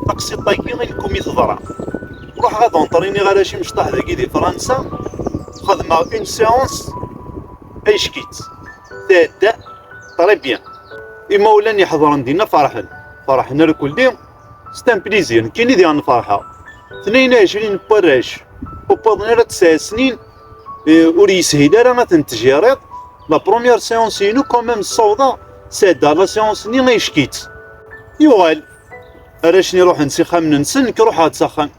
Taqsiṭ-agi i lkum i teḍra. Ruḥeɣ ad anṭriniɣ arrac imecṭaḥ dagi di Fransa, xedmeɣ une séance ayeckitt. Tɛedda très bien. Imawlan iḥedṛen dinna ferḥen, ferḥen reculdi, c'est un plaisir, nekkini diɣen ferḥeɣ. Tnayen u ɛecrin n warrac ur wwiḍen ara tesɛa snin, ur yeshil ara ad ten-tjiriḍ. La première séance-inu quand même ssawḍeɣ, sɛeddaɣ la séance-nni ayeckitt. Yuɣal. Arrac-nni ruḥen s ixxamen-nsen, nekk ruḥeɣ-d s axxam.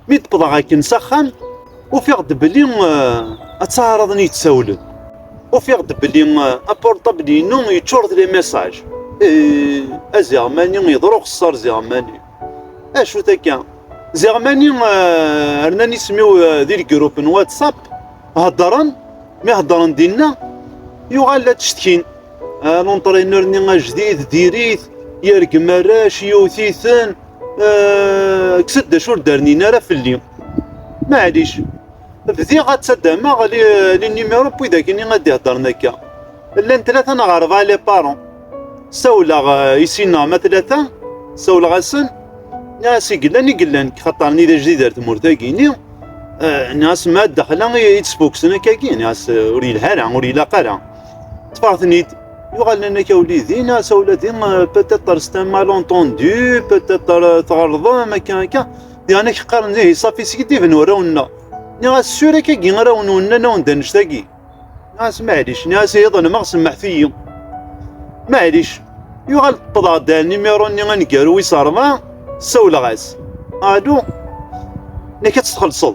Mi d-qḍeɣ akken s axxam, ufiɣ-d belli eh, ad taɛraḍen yettawlen. Ufiɣ-d belli eh, apurṭabl-inu yeččur d les messages. Eh, aziɣmani yeḍru xessar ziɣmani. Acu takka? Ziɣmani eh, rnan isem-iw eh, di lgrup n WhatsApp, heddren, mi heddren dinna, yuɣal la ttcetkin. An unṭriner-nni ajdid diri-t, yergem arrac, yewwet-iten, kkes-d d acu ur d-rnin ara fell-i. Maɛlic, bdiɣ ad ttaddameɣ l-numéro n widak-nni ad d-iheddren akka. Llan tlata neɣ rebɛa les parents. Sawleɣ i sin-a ma tlata, sawleɣ-asen, nniɣ-as i yellan i yellan, xaṭer nni d ajdid ar tmurt-agi, nni nniɣ-as ma daxel-a i d-sbuksen akka-agi, nniɣ-as ur yelha ara, ur ilaq ara. ṭṭfeɣ-ten-id yuɣalen akka uli din asa ula din peut-être c'est un malentendu peut-être tɣelḍem akka akka diɣen ak qqaren ihi safi sgeddiben warraw-nneɣ nniɣ-as sur akkagi ara wen-wennan awen-d annect-agi nniɣ-as maɛlic nniɣ-as ihi ḍelmeɣ semmeḥet-iyi maɛlic yuɣal ṭṭḍeɣ-d nimiru-nni aneggaru wis ṛebɛa sawleɣ-as alu nekk ad tt-txellṣeḍ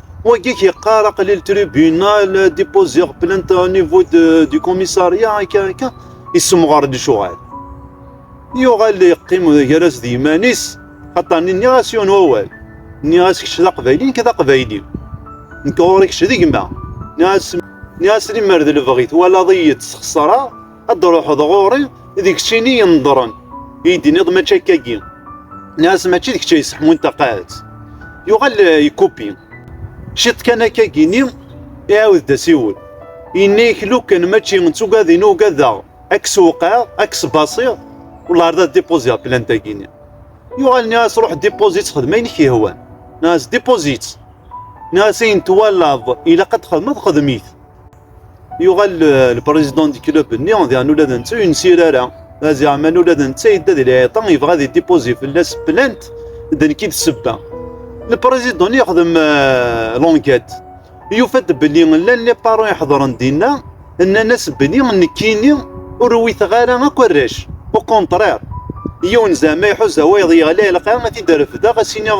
Wagi k-yeqqar aqli le tribunal déposer plainte au niveau du commissariat akka akka yessemɣer-d lecɣal. Yuɣal yeqqim gar-as d yiman-is xaṭer nniɣ-as yiwen wawal. Nniɣ-as kečč d aqbayli nekk d aqbayli. Nekk ɣur-i kečč d gma. Nniɣ-as limmer d lebɣi twalaḍ-iyi ttexṣareɣ ad d-ruḥeḍ ɣur-i deg ccini yenḍren i d-iniḍ mačči akkagi nas mačči d kečč ay seḥmun taqaɛet yuɣal eh, yekupi ciṭ kan akkagi-nni iɛawed-d asiwel yenna-yak lukan mačči d tugadin ugadeɣ ad k-sewqeɣ ad k-sbasiɣ wala d dipoziɣ plantagi-nni yuɣal nniɣ-as ruḥ dipozi-tt xedm ayen k-yehwan nas dipozi-tt nas ayen twalaḍ ilaq ad t-xedmeḍ xedm-it Yuɣal lprizidun di club-nni, diɣen ula d netta ur yensir ara. Aziɛman ula d netta yedda di lɛiṭa, yebɣa ad idipuzi fell-as plant, d nekk i d ssebba. Lprizidun yexdem lonket, yufa-d belli llan lipaṛun iḥedṛen dinna, nnan-as belli nekkini ur uwiteɣ ara akk arrac, ukunṭriṛ, yiwen zeɛma iḥuza wayeḍ yeɣli, ilaq ad t-id-refdeɣ, ad s-iniɣ.